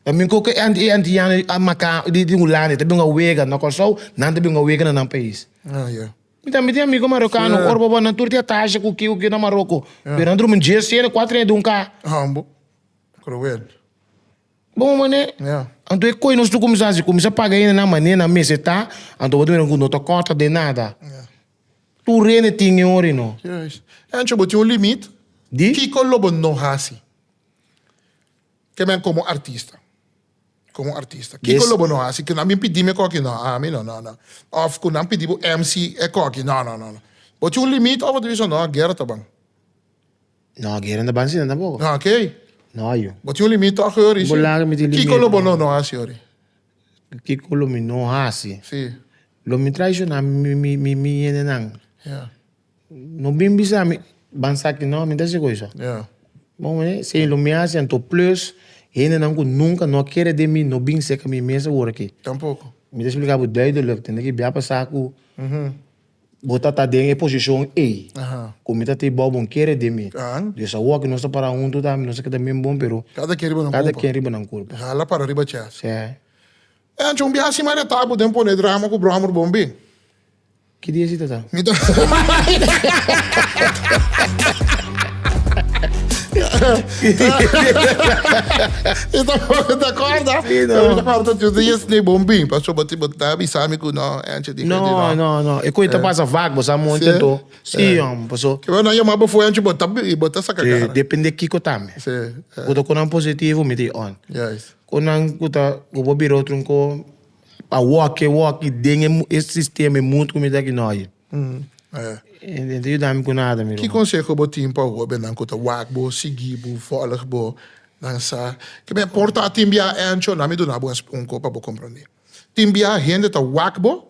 Ta mira ku e e antiano a maká di di Hulanda e ta bin a wega na Kòrsou, nan ta bin a wega na nan pais. Mi tambe tin amigu marokano, ora bo nan tur tin atasha ku ki ku ki na Maroko, pero nan drumi un dje sena, kuatro nèt di un ka. Ambo. Kruel. Bon manera. Yeah. Anto e koe nos lo cuminsa haci, cuminsa paga hende nan manera nan mester ta, anto bo ta mira cu no ta corta den nada. Yeah. Tur hende tin e ora y no. Juist. Ancho bo tin un limit. Di? Kico lo bo no haci? Te men como artista. Como artista. Kico Des- lo bo no haci? Cu nan bin pidi mi e coki? No, a mi no, no, no. Of cu nan pidi bo MC e coki? No, no, no, no. Bo tin un limit of bo ta bisa, no, guera ta ban. No, Gary no ta ban asina tampoco. No, oké. No hay. Bo tin un limit toch hoor, Richie? Bo laga mi tin limit. Kiko lo bo no no hasi hoor? Kiko lo mi no hasi? Sí. Lo mi traiciona mi mi mi mi yendenan. Ya. No bin bisa mi ban sa aki no, mi no ta hasi koe so. Ya. Bo win e? Sin lo mi hasi anto plus yendenan ku nunka no a kere den mi no bin seka mi mesa hoor aki. Tampoco. Mi ta splika bo duidelijk, tende ki bia pasa ku. Bo ta ta den e posishon ei ku mi ta tin bou, bo no kere den mi. Dios a wòk i nos ta para huntu ta, nos ta keda men bon, pero kada ken riba nan kulpa. Hala para riba chèst. E ancho un biaha sima a retá bo den pon'é drama ku bròmor bon bin. Ki dia si ta ta? Mi ta Mi tampoco ta acorda. Mi ta acorda ta tiuw dies, bon bin. Pasobra bo ta bisa mi ku no. No, no, no. E cuenta eh. pasa vaak, bo sa monte to. Sí, eh. hombre. Paso. Que bueno, yo más bo fue ancho, bo ta, bo ta saca cara. Sí, depende kiko tambe. Sí. Eh. Bo con un positivo, me di on. Yes. Con un, cuta, bo biro trunco, a walk, walk, y den el sistema, el mundo, como está que no hay. Mm. Eh. Entonces, yo dame con nada, mi. ¿Qué consejo bo tiene para vos, ben, cuta, walk, bo, sigui, bo, volg, bo, danza? Que me porta a timbia ancho, na me dona bo un copa, bo comprende. Tin biaha hende ta wak bo,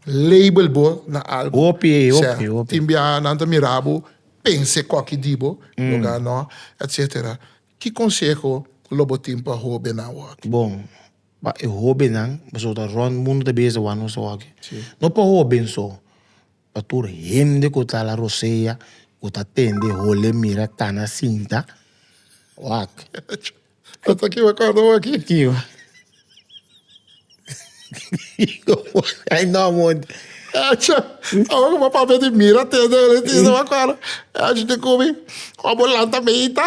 label bo na algu. Hopi, hopi, hopi. Tin biaha nan ta mira bo, pensa ecoki di bo, loga anó, etcetera. Ki conseho lo bo tin pa hobennan hoki? Bon, pa e hobennan, pasobra ta rond mundu ta bisa wak nos hoki. No pa hoben so. Pa tur hende ku ta la rosea ku ta tende hole mira tana sinta wak. Esta ki bo kòrda bo aki? Ki bo ai no amor. Echi awe ku bo papia di mira tende hole sinta bo a kòrda. Echi di ku mi ò bo lanta meita.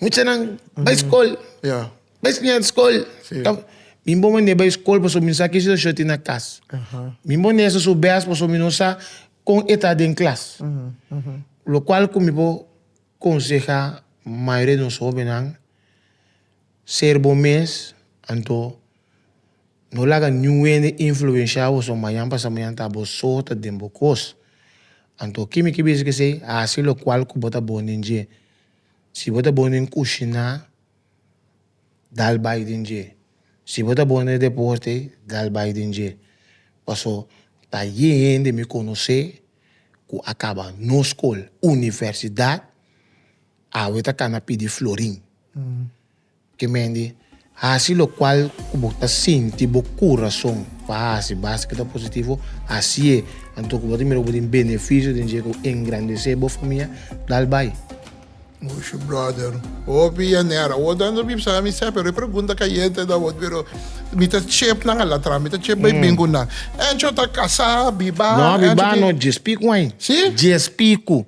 Muchanan bai skol, bai snia den skol. Mi bon mane bai skol pasobra mi sa kish situacion tin na kas. Mi bon den esaso bes pasobra mi no sa kon e ta den klas. Lokual ku mi por konseha mayoria di nos hobennan, ser bo mes, anto no laga niun hende influensha bo pasobra mañan pasa mañan ta bo so ta den bo kos. Anto kimi ki bisa ki esei? Hasi lokual ku bo ta bon den dje. Si bo ta bo den kushiná, dal bai den dje. Si bo ta bo den deporte, dal bai den dje. Paso ta ye hende mi konosé ku a kaba nos skol, universidat, awe ta kana pidi florin. Kemendi, hasi lokual ku bo ta sinti bo kurason pa hasi basta ku ta positivo. Hasi'é anto ku bo ta mira ku bo tin benefisio den dje ku engrandesé bo famia. Dal bai. Mushu brother, hopi yaner awor ta anto bibsa na misé, pero e pregunta kayente na awor, pero mi ta chep nan alatras, mi ta chep bai bin ku nan. Encho ta kasá, bibá, encho tin. No bibá no, djes piku ai. Si? Djes piku.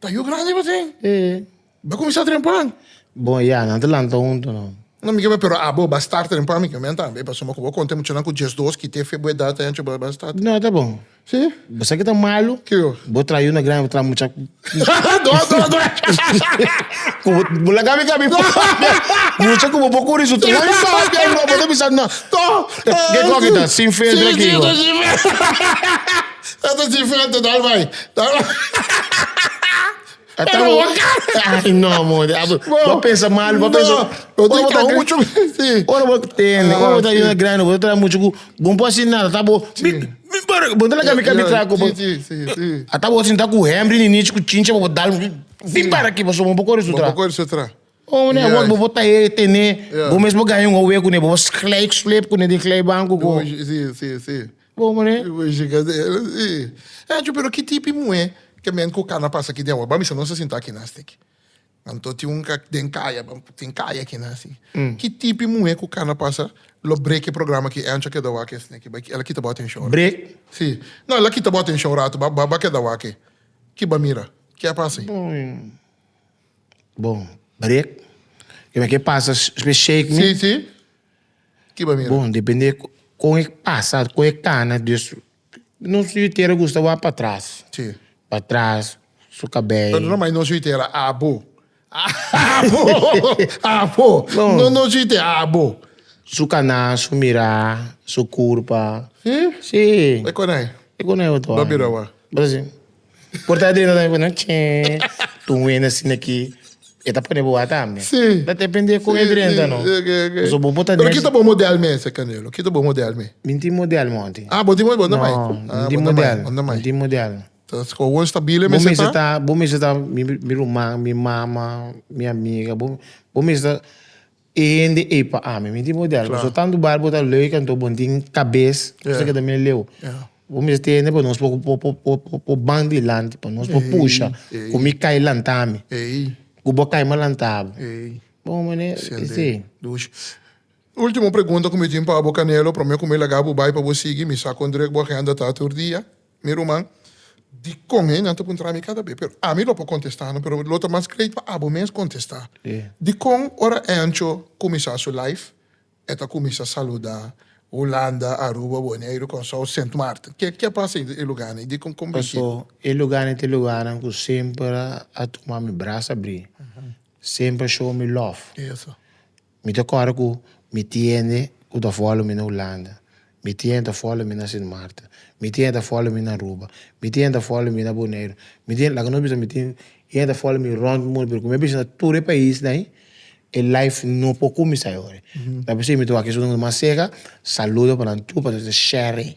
Ta yu grandi bo tin? E. Bo kuminsá trempuan? Bo, Ya, nan ta lanta huntu no. No, mi ke menta, pero abo bo a start trempuan, mi ke menta tambe, pasobra ku bo konta e muchanan ku diesdos ki te fe bo edat ayan cho bo a start. No, ta bon. Si? Bo sa ke ta malu? Ke yo? Bo traha yu na grandi, bo traha mucha ku. Do, do, do. Ku bo, bo laga mi ka mi papia. Mucha ku bo por kuri su traha mi papia no, bo ta bisa no. To. Ke kòke ta? Sin filtro aki bo. Si, sin filtro, sin filtro. E ta diferente dal bai. Pero bo cara. Ay no modi. Bo pensa mal, bo pensa. No, bo ta kau mucho. Sí. Ora bo tende, ora bo ta yona grande, bo ta mucho ku bon por si nada ta bo. Mi mi pero bo ta la kami kami tra ku bo. Sí, sí, sí. Ata bo sinta ku Henry ni Nichi ku chincha bo dal. Di para ki bo so bon por kore su tra. Bon por kore su tra. Bo ne bo bo ta e tene bo mes bo gana un howe kune bo bo sleik sleip kune den klei banku ku bo bo ne echu pero ki tipi muhe ke men ku kana pasa aki den awa ban bisa nos a sinta aki nas de aki anto tin un den kaya bo tin kaya aki nas si ki tipi muhe ku kana pasa lo break e programa aki Angel keda wak esne aki ba ela kita bo atenshon si no ela kita bo atenshon un ratu ba keda wak e kiba mira ke a pasa ayi. Bon, break. Kiba ke pasa espe shake mi? Sí, sí. Kiba mira? Bon, depende kon e pasa, kon e kana. Dus nos yu'itera gusta wak pa tras. Sí. Pa tras, su kabei. Pero no mai nos yu'itera, abo. Abo, abo. No. No nos yu'itera, abo. Su kana, su mira, su kurpa. Sí? Sí. E konai? E konai oto ane. Ba bira wak? Bra si. Corta adrina tambe pone chee. Tun wenda sin aki. E ta pone boa tambe. Sí. Ta depende con e drenta, no. Sí, ok, ok. Paso bo por ta Pero den- kito bo model me esei, Canelo? Kito bo model me? Mi no tin model monti. Ah, bo tin model, bo no mai? No, mi no tin model. Bo no mai. Mi no tin model. Ta scohoon stabile Bo mester mester ta? ta, bo mester ta mi ruman, mi mama, mi amiga. Bo, bo mester ta. E hende ey pa ami. Mi tin model cu so tanto bar bo ta leuke anto bon tin cabes cu sa ke ta mira leu. Bo mester tin hende pa nos por ban dilanti pa nos por pusha cu mi cay lanta mi cu bo cay ma lanta bo. Bon mane esey. Ultimo pregunta cu mi tin pa bo Canelo prome cu mi laga bo bay pa bo sigui mi sa con drug bo agenda ta tur dia. Mi ruman, dikon hei nan ta puntra mi kada be? Pero ami lo por kontestá no, pero lo ta mas great pa abo mes kontestá. Dikon ora Ancho kuminsá su laif, e ta kuminsá saludá Hulanda, Aruba, Boneiru, Kòrsou, Sint Maarten? Ke ke a pasa ei e lugánan ei? Dikon kon bishí? Paso, e lugánan ta e lugánan ku semper a tuma mi bras abrí, semper a show mi lòf. Mi ta kòrda ku mi tiende ku ta fòlo mi na Hulanda, mi tiende ta fòlo mi na Sint Maarten, mi tiende ta fòlo mi na Aruba, mi tiende ta fòlo mi na Boneiru, mi tiende, laga nos bisa mi tiende ta fòlo mi rònt mundu, pero ku mi a bisa na tur e paisnan ei, e life no por kuminsá ei ora ei. Ta basei mi ta wak esuna mas sega, saludo pa nan tur, pa nos ta share ei.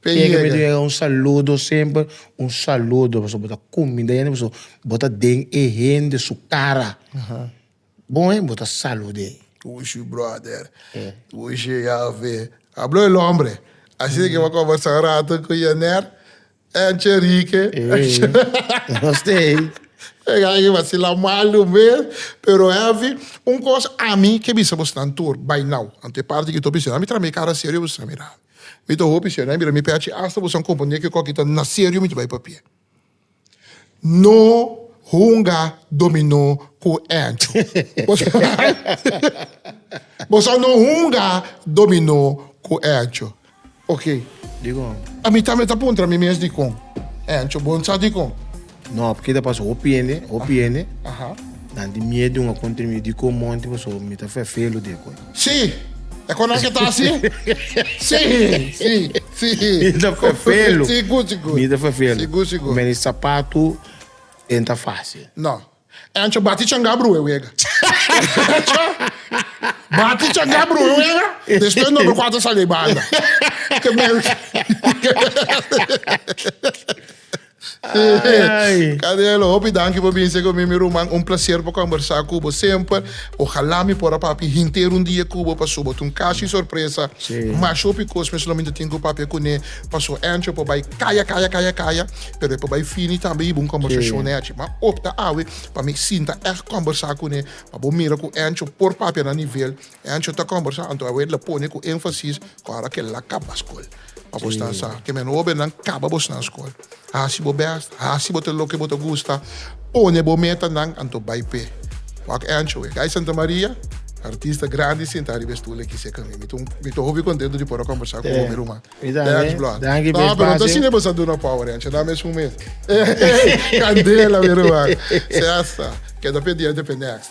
Te yega be diega un saludo semper un saludo pasobra bo ta cuminda hende pasobra bo ta den e hende su cara bon he bo ta salude. Ushi brother ushi yafe hablo el hombre asi de que bo a conversa un rato cu Yener enche rike enche e gay vacila mal un bes pero heavy un cos ami ke bisa bo snan tur bay now anto e parti ki to bisa ami traha mi cara serio bisa mira. Mi ta hopi siñor, nan a bira mi p'e haci asta bo san compone cu e coki ta na serio mi ta bay papia. No hunga dominó cu Ancho. Bo sa no hunga dominó cu Ancho. Ok. Dicon? A mi tambe ta puntra mi mes dicon. Ancho, Bon sa dicon? No, porque ta pasa hopi hende, hopi hende nan tin miedu un akon tremida di kon monti, pasobra mi ta fea fea lo di akon. Sí, e konan ke ta así? Sí, sí, sí. Mi ta fea fea lo. Sí, good, sí, good. Mi ta fea fea lo. Sí, good, sí, good. Meni sapatu e ta fácil. No. E ancho bati changá brue wega. E ancho bati changá brue wega, despues number kuater sali banda. Ke meri. Ay. Canelo, hopi danki pa binse cu mi, mi ruman. Un placer pa combersa cu bo semper. Ojalá mi por a papia henter un dia cu bo pa suba tu un cashi sorpresa. Sí. Mashi hopi cos mes lo mi ta tin cu papia cu ne, paso Ancho por bay caya, caya, caya, caya, pero e por bay fini tambe hiba un combersacion nechi. Ma opta awe pa mi sinta echt combersa cu ne, pa bo mira cu Ancho por papia na nivel. E ancho ta kombersá anto awor e la pone ku énfasis ku ora ku el'a kaba skol. Pa bo sta sa, ke meno hóbennan kaba bo snan skol. Hasi bo bèst, hasi bo te loke bo ta gusta, pone bo metanan anto bai p'e. Wak e ancho, Guy Santamaria, artista grandi sinta ariba e stul aki serka mi. Mi ta mi ta hopi kontentu di por a kombersá ku bo mi ruman. Mi tambe. Thanks bro. Danki p'e spasio. No, pero no ta asina bo sa duna power e ancho, nan mesun mes. Kandela mi ruman. Sesta, keda pendiente p'e next.